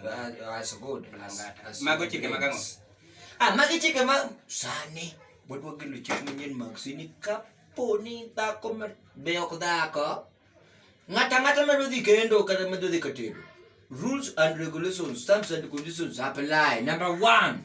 Ah, that's good. Langata. That's Mago good. chike magang'o? Ah, magi chike ma sani wadwa gelo chik manyien mag sini kapo ni dhako ma be ok dhako ng'ata ng'ata medo dhi kendo kata medo dhi katedo rules and regulations terms and conditions apply number one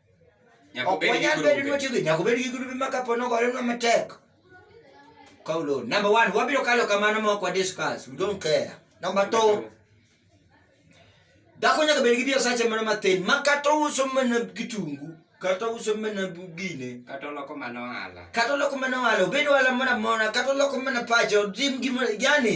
ok wanyal bedo ni watiyo gi nyaka obed gi grube ma kapo ni ogorenwa matek kaw loan number one wabiro kalo kamano ma ok wadiscuss we don't care number two dhako nyaka bed gi biasache moro mathin ma kata ouso mana kitungu kata ouso mana gine kata oloko mana ohala kata oloko mana ohala obed ohala moro amora kata oloko mana pache otim gimoro yani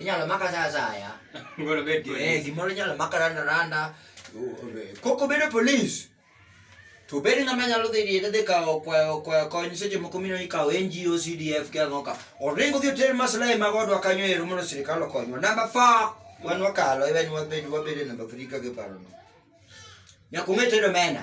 inyalo maka sa asaya Ngoro bet Eh, yes. gimoro inyalo maka randa randa koko bedo polis to bedo ng'ama nyalo dhi riede dhi kawo kwayo kwayo kony seche moko mino ikawo ngo cdf ke ang'o ka oringo dhi oter maslahi mag odwa kanyo ero mondo sirikal okonywa namba four wan wakalo even wabed wabede namba three ka giparono nyaka ung'e tedo mena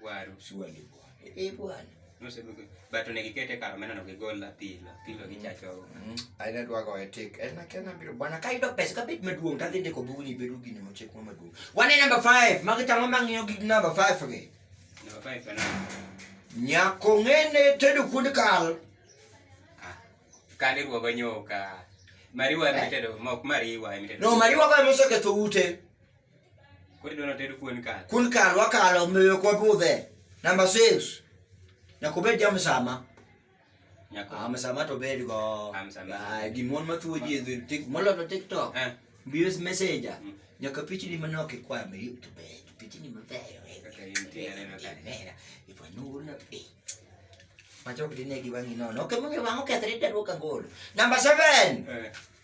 Waru. Surely bwana. Eh bwana. Nosebe ko but onego ikete kar omena no gigol apilo. Apilo gichacho. Mm. Aina dwago etik. En akena biro bwana ka yudo pesa ka bit maduong' to adhi ndiko bugni bedo gini mochek ma maduong'. Wane number 5. Magi tang'o mang'iyo gi number 5 gi. Number 5 kana. Nyako ng'ene tedo kuonde kal. Ah. Kali ruogo nyoka. Mariwa emitedo, mok mariwa emitedo. No mariwa go emosoketho ute. Koro idwa nater kuon kal. Kun kal wakalo omiyo ok wabudhe. Namba 6. Nyaka obed jamsama. Nyako. Ah, msama to bed go. Ah, msama. Ah, gimon mathuo ji edhi tik moloto TikTok. Eh. Bios messenger. Mm. Nyaka pichni manok ikwa me to bed. Pichni mabeyo. Kaka intie aneno ka. Mera. Ipo nuru na pi. Machok dine gi wangi nono. Okay, mwangi wango kethre tadwo kangolo. Namba 7. Eh.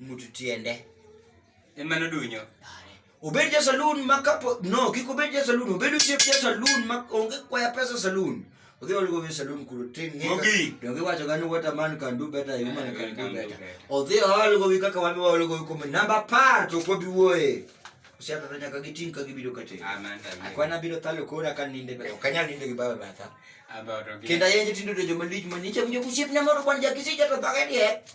mutu tiende ema nodunyo obed ja saloon ma kapo no kik obed ja saloon obed osiep ja saloon ma onge kwaya pesa saloon odhi olugo we saloon kuro tin donge wacho gani what a man can do better a woman can do better odhi olugo wi kaka wan waolugo wi kuom namba apar to ok wabi wuoye osiato to nyaka giting ka gibiro kate akwana biro thalo kora ka ninde ok anyal ninde gi bawe batha kendo ayenje tindo to joma lich ma nicha winjo kusiepna moro kwan jakisija to dhogediek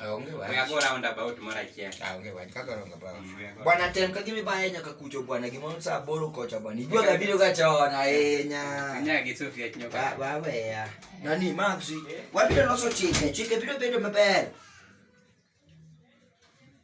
Ah, onge wach. We are go round about moro achiel. Ah, onge wach. Kaka onge wach. Mm, we are go- Bwana tem ka gimi baya nyaka kucho bwana gimoro saa boro kocha bwana. Ijua ga video ga chona ahinya. Kanya gi Sofia Kinyoka. Ba- Baweya. Nani Maxi? Wabiro loso chike. Chike biro bedo maber.